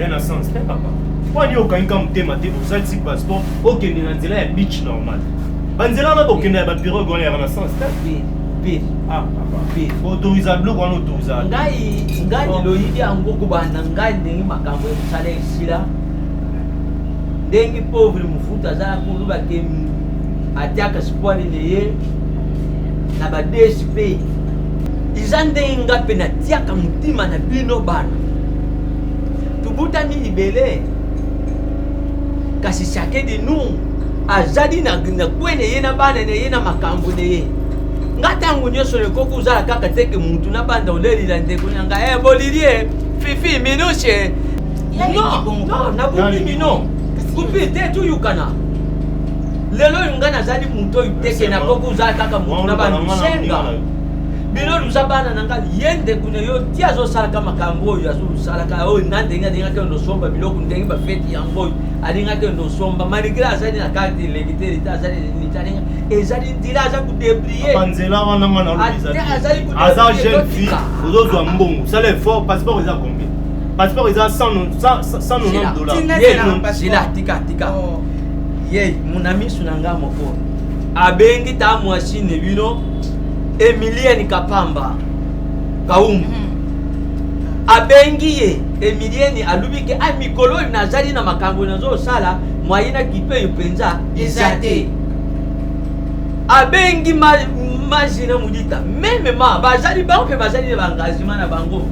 ya na sens te papa mpo ani okangika motema te osalisi passeport okende na nzela ya beach normal banzela wana bokende ya bapirogue wana ya renaissance te autoriza biloko wana autoriza ngai ngai loyidi yango kobanda ngai ndenge makambo ya mosala esila ndenge pauvre mofuta azala koloba ke atiaka sipwale na ye na ba dsp eza ndenge ngai mpe natiaka motima na bino bana tobotami libele kasi chacun de nous azali na, na kwe na ye na bana na ye na makambo na ye nga ntango nyonso ekoki ozala kaka teke mutu na banda olelela ndeko na nga e bolilie fifi minushe nabomi mino kupi te toyokana lelo oyo nga nazali moto oyo teke nakoki ozala kaka motu na bandusenga bino luza bana na nga ye ndeko na yo ti azosalaka makambo oyo azosalaka oyo nga ndenge alingaki oyo nosomba biloko ndenge bafeti yango oyo alingaki oyo nosomba maligre azali na karte elengi te leta azali nini te alinga ezali ndila aza kudebrie nzela wana nga nalobiaza jeune fille ozozwa mbongo sala effort passeport eza combien passeport eza 190 dollaratika tika oh. ye monamisu na nga moko abengi ta mwasi ne bino emilienne kapamba kaumbu hmm. abengi ye emilienne alobi ke a ah, mikolo oyo nazali na makambo nazosala mwaye na kipe oyo mpenza eza te abengi maji na modita meme ma bazali bango mpe bazali na baengagement na bango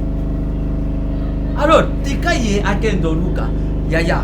alors tika ye akende oluka yaya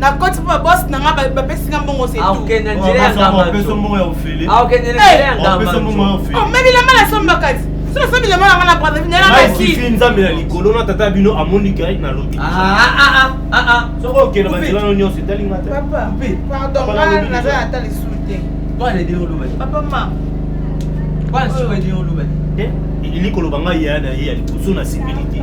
na koti mpo babosi na ngai bapesi ngai mbongo setuomemi lamba na somba kati so nasomi lamba na ngai na brazavinelamaki nzambe na likolo na tata bino amoni gari na lobi soki okenda banzelano nyonso etali ngai naza ata lisusu te papa ma elikoloba ngai ya na ye ya liboso na sepeli te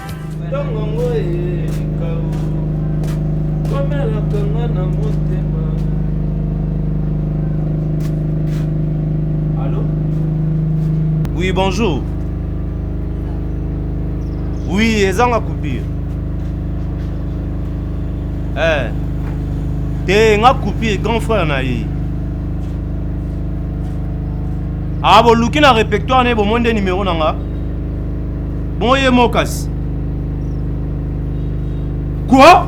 ntongongo eyekao komelaka nga na motema alo oui bonjour oui ezanga coupure eh te nga coupure grand frère na ye aboluki ah, na répertoire na ye bomoi nde nimero na nga Bon ye mokas. Quoi?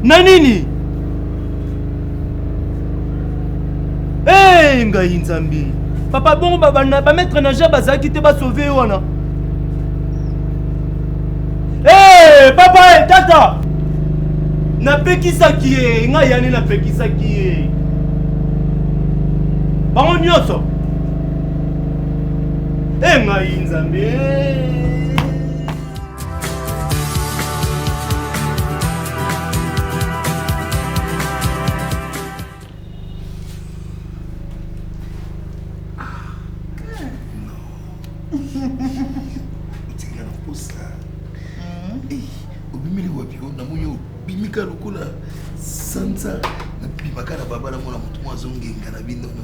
Na nini? Hey, ngai nzambi. Papa bongo ba ba, ba mettre na jeu bazaki te ba sauver wana. Hey, papa hey, tata. Na pekisaki ye, ngai yani na pekisaki ye. Bango nyoso. e ngai nzambe otikala na posa obimeli wapi o namoni obimika lokola sanza nabimaka na babala mona motu mwa azongenga na binono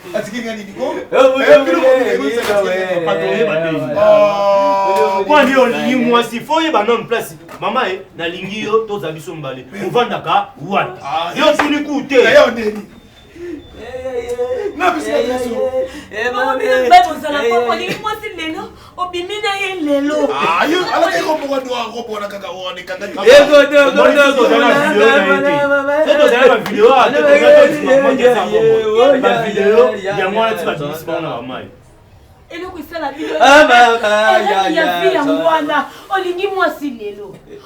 atiki nga nini ko kwani olingi mwasi fo oyeba nano place mama e nalingi yo toza biso mbale ovandaka wapi ah, yo otuni ku te bakozala mpo olingi mwasi lelo obimi na ye lelo alaki koboka dwa kobona kaka one kangabavideo eloko esala bino ya vi yango wana olingi mwasi lelo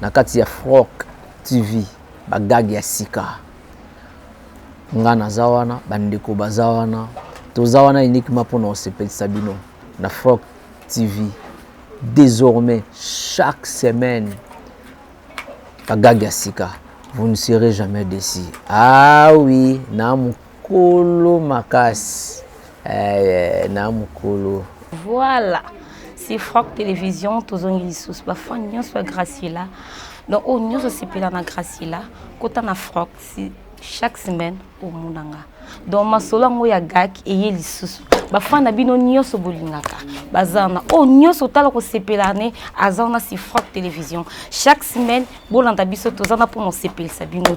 Na kati ya Froc TV ba gag ya sika nga naza wana ba ndeko baza wana toza wana uniquement pona kosepelisa bino na Froc TV désormais chaque semaine ba gag ya sika vous ne serez jamais déçu ah oui na Kolo makasi eh, na mukolo. Voilà. C'est Franck Télévision, tozongi lisusu ba fan nyonso ya Graciela. Donc oyo nyonso asepela na Graciela, kota na Franck si chaque semaine omona nga. Donc masolo yango ya gak eye lisusu. Ba fan na bino nyonso bolingaka. Baza na oyo nyonso otala kosepela ne aza na si Franck Télévision. Chaque semaine bolanda biso tozana mpo na osepelisa bino.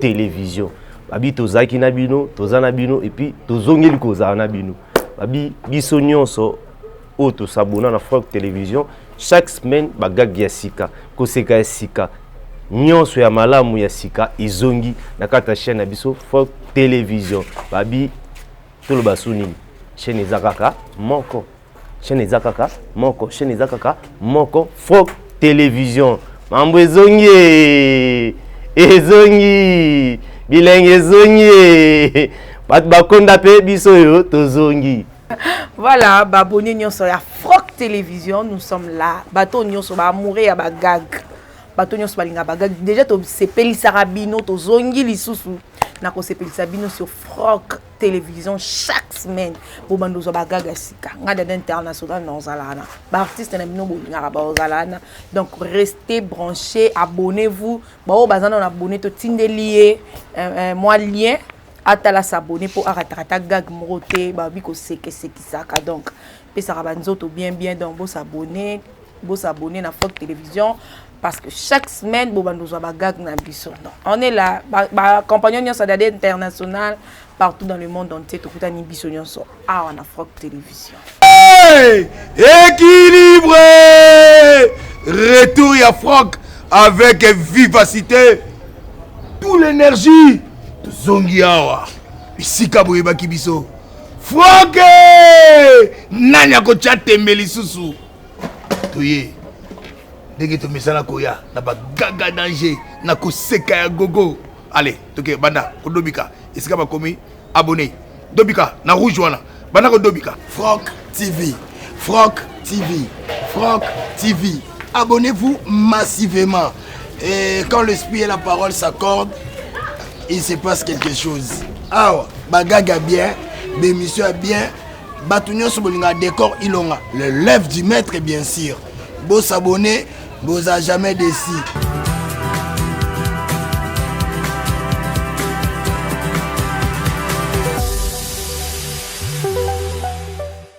television babi tozalaki na bino toza na bino epuis tozongeli kozala na bino babi biso nyonso oyo tosabona na frank television chaque semaine bagage ya sika koseka ya sika nyonso ya malamu ya sika ezongi na kati ya chaîne na biso frank television babi toloba so nini chaîne eza kaka moko chaîne eza kaka moko chaîne eza kaka moko froc télévision mambo ezongi ezongi bilenge ezongi bato bakonda mpe biso oyo tozongi voilà baboni nyonso ya froc télévision nous sommes là bato nyonso baamoure ya bagag bato nyonso balinga bagag déjà tosepelisaka bino tozongi lisusu na kosepelisa bino sur froc television chaque semaine bobanda ozwa bagaga sika ngai dada international na ozala wana baartiste na bino bolingaka baozala wana donc reste branché abonnez vous baoyo baza nano abonne totindeli ye euh, euh, mwa lien atala s'abonne mpo arataka ata gag moko te babi kosekesekisaka donc pesaka banzoto bien bien donc bosabonne Bo s'abonner na Fort Television parce que chaque semaine bo bando zwa ba gag na biso. Donc on est là ba, ba compagnon nyosa dade international partout dans le monde entier to kutani biso nyoso awa na Fort Television. Hey! Équilibre! Retour ya Franck avec vivacité. Tout l'énergie tozongi awa bisika boyebaki biso. Franck! Nani akotya tembe lisusu? toye ndenge tomesana koya na bagaga danger na koseka ya gogo ale toke banda kodobika esika bakomi abonne dobika na rouge wana banda kodobika frank tv frank tv frank tv abonnez-vous massivement et quand l'esprit et la parole s'accordent il se passe quelque chose awa bagaga bien bémission ya bien Batu nyoso bolinga decor ilonga. Le lève du maître bien sûr. Bo s'abonner, bo za jamais déçu.